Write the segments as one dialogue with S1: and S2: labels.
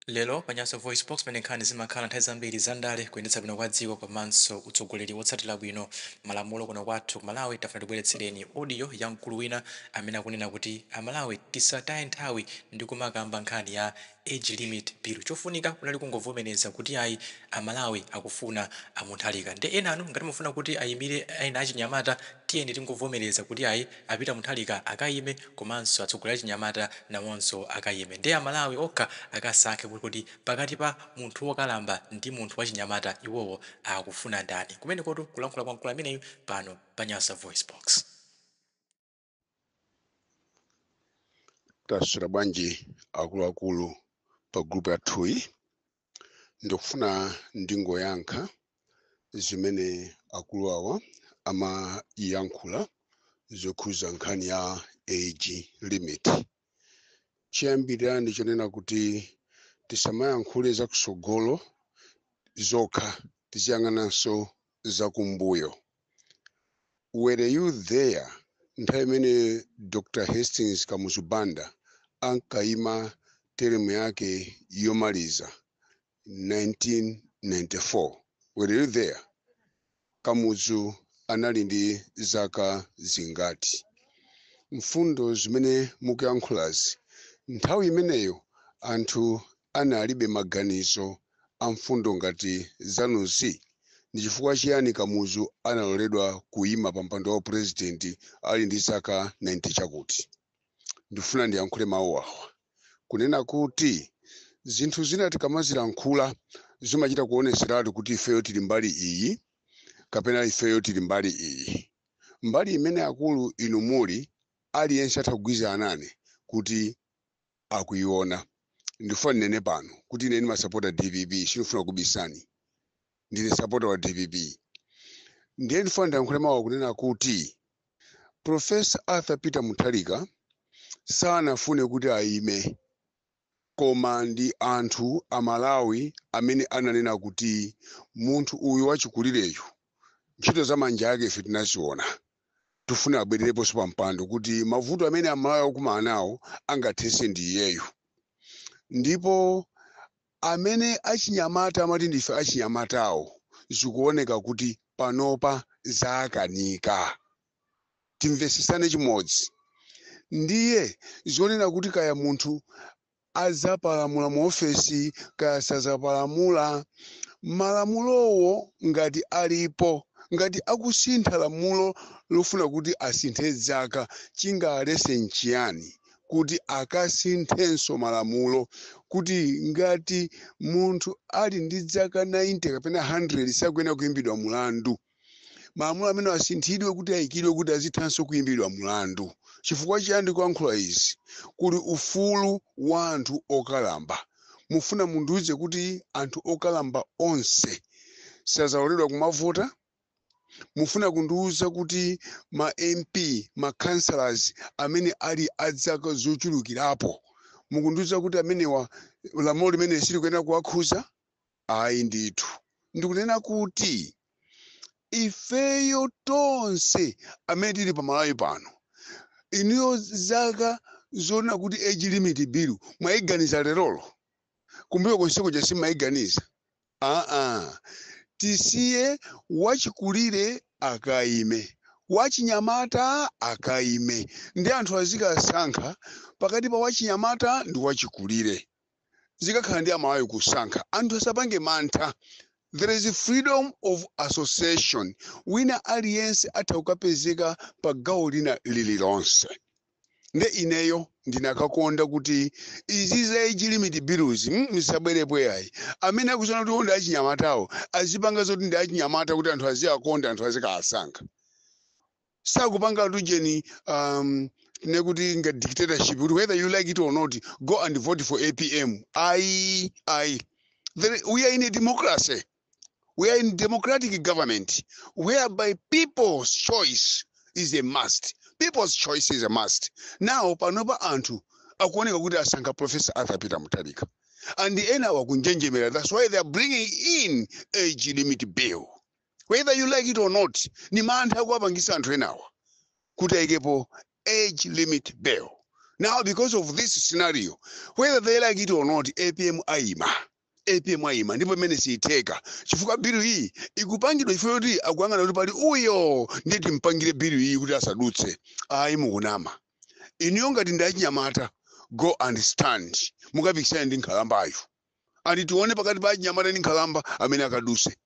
S1: Lero pa Nyasa VoiceBox pamene nkhani zimakhala nthawi zambiri za ndale, kuyendetsa bwino kwa dziko komanso utsogoleri wotsatira bwino malamulo kuno kwathu ku Malawi, tafuna tibweretsereni audio ya mkulu wina amene akunena kuti Amalawi tisataye nthawi ndi kumakamba nkhani ya Age Limit Bill. Chofunika kunali kungovomereza kuti ayi, Amalawi akufuna a Mutharika. Nde enanu ngati mukufuna kuti ayimire ena achinyamata, tiyeni tingovomereza kuti ayi, A Peter Mutharika akayime komanso atsogoleri achinyamata nawonso akayime nde a Malawi okha akasankhe kuti pakati pa munthu wokalamba ndi munthu wachinyamata iwowo akufuna ndani. Kumenekotu kulankhula kwa mkulu ameneyu pano pa Nyasa
S2: VoiceBox. Taswera bwanji akuluakulu pa group yathuyi? ndikufuna ndingoyankha zimene akulu awa amayankhula zokhuza nkhani ya age limit chiyambirira ndi chonena kuti tisamayankhule zakusogolo zokha tiziyang'ananso zakumbuyo. Were you there nthawi imene Dr Hastings Kamuzu Banda ankaima teremu yake yomaliza 1994? Were you there? Kamuzu anali ndi zaka zingati? Mfundo zimene mukuyankhulazi nthawi imeneyo anthu analibe maganizo a mfundo ngati zanuzi? Ndi chifukwa chiyani Kamuzu analoledwa kuima pa mpando wa pulezidenti ali ndi zaka 90 chakuti? Ndifuna ndiyankhule mawu awa, kunena kuti zinthu zina tikamazilankhula zimachita kuoneseratu kuti ifeyo tili mbali iyi kapena ifeyo tili mbali iyi. Mbali imene akulu inu muli, aliyense atha kugwirizana nane kuti akuiona ndifuna ndinene pano kuti ine ndimasapota dpp sinifuna kubisani ndine sapota wa dpp ndiye ndifuna ndiyankhule mawu awa kunena kuti profesa arthur peter mutharika sanafune kuti ayime koma ndi anthu amalawi amene ananena kuti munthu uyu wachikulireyu ntchito za manja ake ife tinaziona tifuna abwerereponso pa mpando kuti mavuto amene amalawi akumana nawo angathese ndi iyeyu ndipo amene achinyamata amati ndife achinyamatawo zikuoneka kuti panopa zakanika timvesesane chimodzi ndiye zonena kuti kaya munthu adzapalamula mu ofesi kaya sadzapalamula, malamulowo ngati alipo, ngati akusintha lamulo lofuna kuti asinthe dzaka, chingawalese n'chiyani kuti akasinthenso malamulo? Kuti ngati munthu ali ndi dzaka 90 kapena 100 sakuyenera kuimbidwa mlandu? malamulo amenewa asinthidwe kuti ayikidwe kuti azithanso kuyimbidwa mlandu chifukwa chiyani ndikuyankhula izi kuli ufulu wa anthu okalamba mufuna mundiuze kuti anthu okalamba onse sazaloledwa kumavota mufuna kundiuza kuti ma mp ma councillors amene ali adzaka zochulukirapo mukundiuza kuti amenewa lamulo limene silikuyenera kuwakhuza Ayi ndithu. Ndikunena kuti ifeyo tonse amene tili pa Malawi pano, inuyo zaka zonena kuti age limit bill mwaiganiza lerolo? Kumbuyo konseku cha simumaiganiza? Aa, tisiye wachikulire akaime, wachinyamata akaime nde anthu azikasankha pakati pa wachinyamata ndi wachikulire. zikakhala ndi amalawi kusankha anthu asapange mantha there is freedom of association wina aliyense atha kukapezeka pa gawo lina lililonse nde ineyo ndinakakonda kuti izi za age limit bills mm, zisabwerepo yayi amene akuziona kuti ndi achinyamatawo azipanga zoti ndi achinyamata kuti anthu aziwakonda anthu azikawasankha sakupanga tujeni um, ne kuti nga dictatorship kuti whether you like it or not go and vote for apm ayi ayi There- we are in a democracy we are in democratic government whereby people's choice is a must people's choice is a must now panopa anthu akuoneka kuti asankha professor arthur peter mutalika and ena wakunjenjemera that's why they are bringing in age limit bill whether you like it or not ni mantha akuwapangisa anthu enawa kuti ayikepo age limit bill now because of this scenario whether they like it or not apm ayima apm ayima ndipo imene siyitheka chifukwa bilu iyi ikupangidwa chifukwa choti akuyang'ana kuti pali uyo ndiye timpangire bilu iyi kuti asadutse ayi mukunama inuyo ngati ndi achinyamata go and stand mukapikisane ndi nkhalambayo and tione pakati pa achinyamata ndi nkhalamba amene akaduse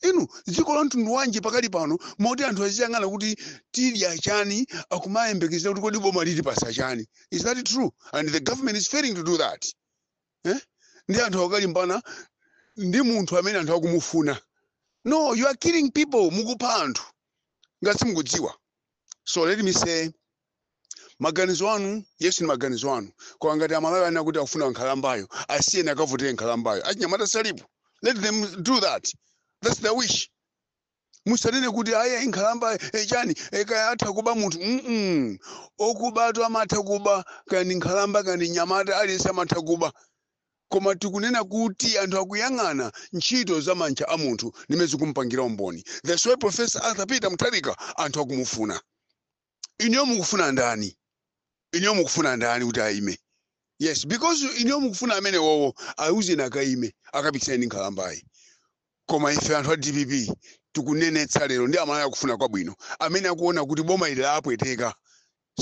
S2: inu dziko la mtundu wanji pakali pano moti anthu aziyang'ana kuti tidya chani akumayembekezera kuti kodi boma litipasa chani is that true and the government is failing to do that eh? ndi anthu akukalimbana ndi munthu amene anthu akumufuna no you are killing people mukupha anthu ngati simukudziwa so let me say maganizo anu yes ni maganizo anu koma ngati amalawi anena kuti akufuna nkhalambayo asiyeni akavotere nkhalambayo achinyamata salipo let them do that that's their wish musanene kuti aya ni nkhalamba eh, chani eh, kaya atha kuba munthu mm okubatu amatha kuba kaya ni nkhalamba kaya ni nyamata aliyense amatha kuba koma tikunena kuti anthu akuyang'ana ntchito za manja a munthu nimene zikumpangira umboni that's why professor arthur peter mutharika anthu akumufuna inuyo mukufuna ndani inuyo mukufuna ndani kuti ayime yes because inuyo mukufuna amene wowo ayuzeni akayime akapikisane ndi nkhalambayi koma ife anthu a dpp tikunenetsa lero ndi aMalawi akufuna kwabwino amene akuona kuti boma ili lapweteka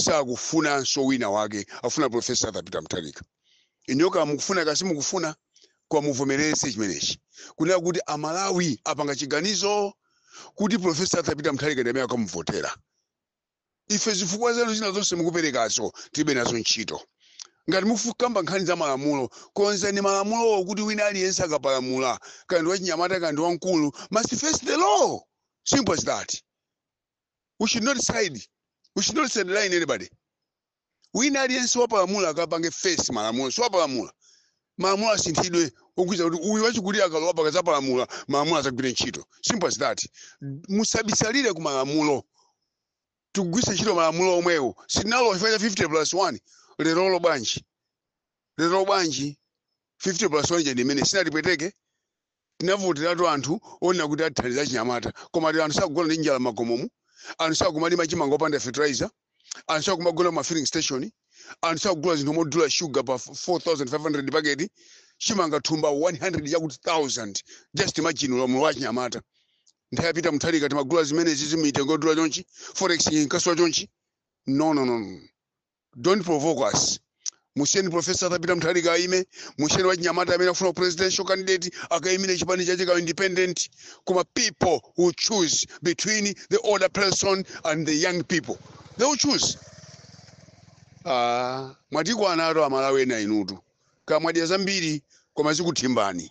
S2: sakufunanso wina wake afuna profesa arthur peter mutharika inuyo kaya mukufuna kaya simukufuna koma muvomereze chimenechi kunena kuti aMalawi apanga chiganizo kuti profesa arthur peter mutharika ndi amene akamuvotera ife zifukwa zanu zina zonse mukuperekazo tilibe nazo ntchito ngati mufuna kukamba nkhani za malamulo konzani malamulowo kuti wina aliyense akapalamula kaya ndi wachinyamata kaya ndi wamkulu must face the law simple as that we should not side we should not sideline anybody wina aliyense wapalamula akapange face malamulo si wapalamula malamulo asinthidwe okhudza kuti uyu wachikulire akalowa akadzapalamula malamulo adzagwire ntchito simple as that musabisalire ku malamulo tigwiritse ntchito malamulo omwewo sitinalowa chifukwa cha 50 plus 1 lerolo bwanji lerolo bwanji 50 plus 1 yo ndi imene sinatipweteke Tinavoteratu anthu onena kuti athandiza achinyamata koma lero anthu sakugona ndi njala m'makomomu, anthu sakumalima chimanga opanda fertilizer, anthu sakumagona ku ma filling station, anthu sakugula zinthu modula sugar pa 4500 paketi, chimanga thumba 100 chakuti thousand, just imagine ulamuliro wa achinyamata. Nthawi ya Peter Mutharika timagula zimenezizi mitengo yodula chonchi, forex inkasowa chonchi? No, no, no, no. Don't provoke us. Musiyeni Professor Arthur Peter Mutharika aime, musiyeni wachinyamata amene akufuna presidential candidate akaimire chipani chake kaya independent. Koma people will choose between the older person and the young people. They will choose. Ah, mwatikwana nawo aMalawi ena inutu. Kaya mwadya zambiri koma zikuthimbani.